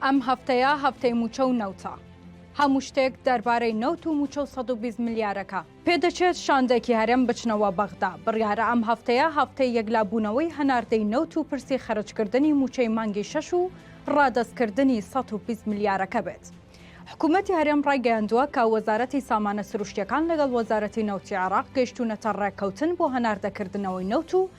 ئەم هەفتەیە هەفتەی مووچە و نەوتە. هەموو شتێک دەربارەی نەوت و مووچە و سەد و بیست ملیارەکە. پێدەچێت شاندێکی هەرێم بچنەوە بەغدا. بڕیارە ئەم هەفتەیە هەفتەی یەکلابوونەوەی هەناردەی نەوت و پرسی خەرجکردنی مووچەی مانگی شەش و ڕادەستکردنی سەد و بیست ملیارەکە بێت. حکومەتی هەرێم ڕایگەیاندووە کە وەزارەتی سامانە سروشتییەکان لەگەڵ وەزارەتی نەوتی عێراق گەیشتوونەتە ڕێککەوتن بۆ هەناردەکردنەوەی نەوت و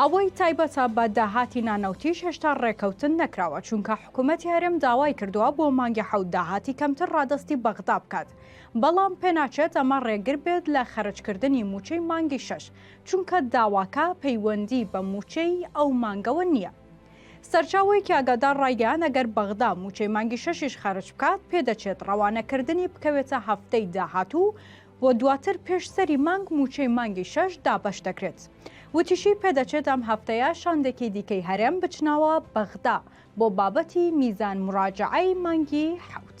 ئەوەی تایبەتە بە داهاتی نانەوتیش هێشتا ڕێکەوتن نەکراوە چونکە حکوومەتی هەرێم داوای کردووە بۆ مانگی حەوت داهاتی کەمتر ڕادەستی بەغدا بکات بەڵام پێناچێت ئەمە ڕێگر بێت لە خەرجکردنی مووچەی مانگی شەش چونکە داواکە پەیوەندی بە مووچەی ئەو مانگەوە نییە سەرچاوەیەکی ئاگادار ڕایگەیان ئەگەر بەغدا مووچەی مانگی شەشیش خەرج بکات پێدەچێت ڕەوانەکردنی بکەوێتە هەفتەی داهاتوو و دواتر پێش سەری مانگ مووچەی مانگی شەش دابەش دەکرێت. وتیشی، پێدەچێت ئەم هەفتەیە شاندێکی دیکەی هەرێم بچنەوە بەغدا بۆ بابەتی میزان موراجەعەی مانگی حەوت.